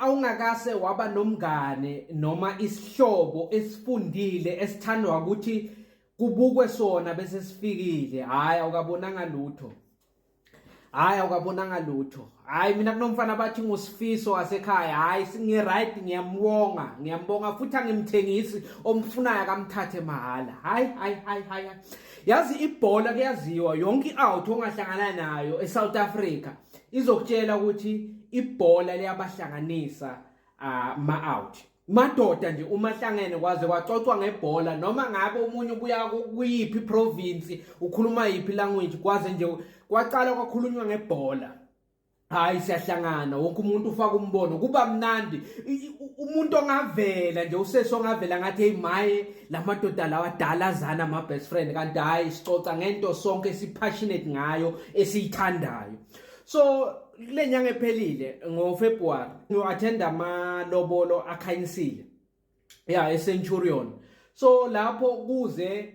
awungakase waba nomngane noma isihlobo esifundile esithandwa ukuthi kubukwe sona bese sifikile hhayi awukabonanga lutho hhayi awukabonanga lutho hhayi mina kunomfana bathi ngusifiso wasekhaya hhayi ngi-right ngiyambonga ngiyambonga futhi angimthengisi omfunayo akamthathe mahhala hhayi hhayi hhayi hhayi yazi ibhola kuyaziwa yonke i-out ongahlangana nayo e-south africa izokutshela ukuthi ibhola liyabahlanganisa uh, ma out madoda nje uma hlangene kwaze kwaxoxwa ngebhola noma ngabe umunye ubuya kuyiphi province ukhuluma yiphi language kwaze nje kwaqala kwakhulunywa ngebhola hayi siyahlangana wonke umuntu ufaka umbono kuba mnandi umuntu ongavela nje usesi ongavela ngathi hey maye lamadoda lawa adala azana ama best friend kanti hayi sicoca ngento sonke esipassionate ngayo esiyithandayo so kule nyanga ephelile ngofebruary ngiwathenda amalobolo akhanyisile ya eCenturion so lapho kuze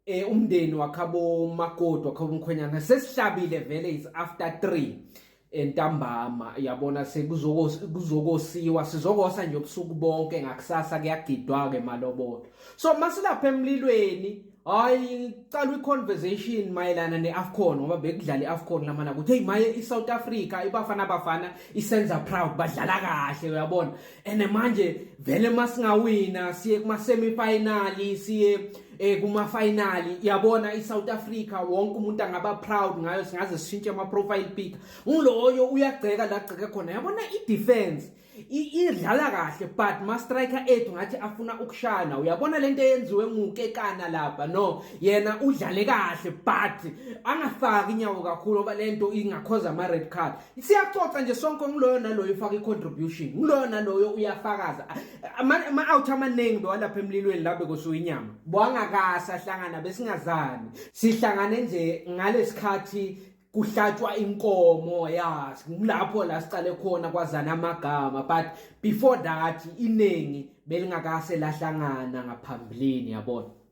eh umndeni wakhabo makoti wakhabo mkhwenyana sesihlabile vele is after 3 entambama yabona sekuzokosiwa sizokosa nje ubusuku bonke ngakusasa kuyagidwa ke malobolo so masilapha emlilweni hayi cala iconversation mayelana neAfcon ngoba bekudlala iAfcon lamana ukuthi hey maye iSouth Africa ibafana bafana isenza proud badlala kahle uyabona ene manje vele masingawina siye kuma semi final siye eh kuma final yabona i South Africa wonke umuntu angaba proud ngayo singaze sishintshe ama profile pic uloyo uyagceka la gceke khona yabona i defense idlala kahle but ma striker ethu ngathi afuna ukushana uyabona lento eyenziwe ngukekana lapha no yena udlale kahle but angafaki inyawo kakhulu ngoba lento ingakhoza ama red card siyaxoxa nje sonke ngiloyo naloyo ufaka i-contribution ngiloyo naloyo uyafakaza ama-out amaningi bewalapha emlilweni la bekusuka inyama bwangakasi ahlangana besingazani sihlangane nje ngalesikhathi kuhlatshwa inkomo yazi kulapho la siqale khona kwazana amagama but before that iningi belingakase lahlangana ngaphambilini yabona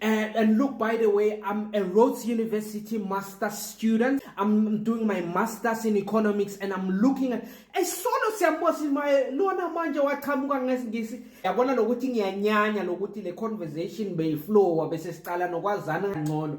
And, and look, by the way, I'm a Rhodes University master student. I'm doing my master's in economics and I'm looking at esolo siyambosini maye lona manje waqhamuka ngesingisi yabona lokuthi ngiyanyanya lokuthi le conversation beyiflowa bese siqala nokwazana ngcono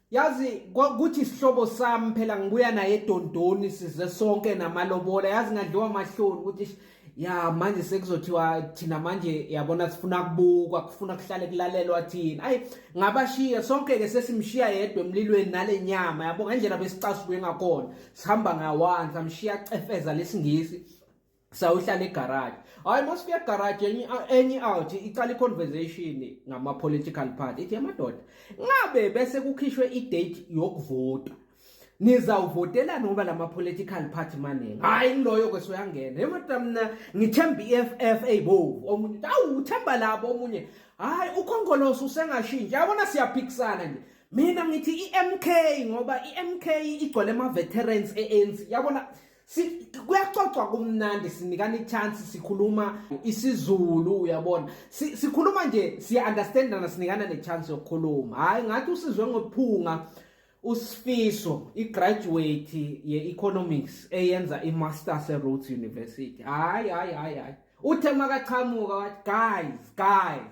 yazi kuthi isihlobo sami phela ngibuya naye edondoni size sonke namalobola yazi ngadliwa amahloni ukuthi ya manje sekuzothiwa thina manje yabona sifuna kubukwa kufuna kuhlale kulalelwa thina ayi ngabashiya sonke ke sesimshiya yedwa emlilweni nale nyama yabo ngendlela besicasuke ngakhona sihamba ngawanza mshiya cefeza lesingisi sawuhlala egarage hayi masifika egarage enye enye out iqala iconversation ngama political party ithi amadoda ngabe bese kukhishwe idate yokuvota nizawuvotela noba lama political party maningi hayi ngiloyo kwesoyangena emadoda mina ngithemba iFF eyibovu omunye awu uthemba labo omunye hayi ukhongoloso usengashintsha yabona siyaphikisana nje mina ngithi iMK ngoba iMK igcwele ama veterans eANC yabona kuyaxoxwa kumnandi sinikana ichance sikhuluma isizulu uyabona sikhuluma nje siya-understandana sinikana nechance yokukhuluma hhayi ngathi usizwe ngophunga usifiso igraduate ye-economics eyenza i-masters e-rhodes university hhayi hhayi hhayi hhayi uthe makaqhamuka wathi guys guys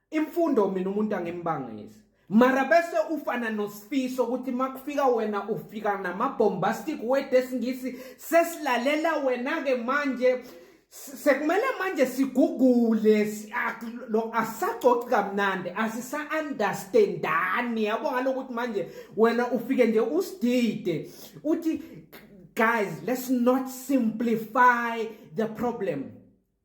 imfundo mina umuntu angimbangisi mara bese ufana nosifiso ukuthi makufika wena ufika namabombastic word esingisi sesilalela wena-ke manje sekumele manje sigugule lo asacoci kamnandi asisa-understandani yabo ngalokuthi manje wena ufike nje usidide uthi guys let's not simplify the problem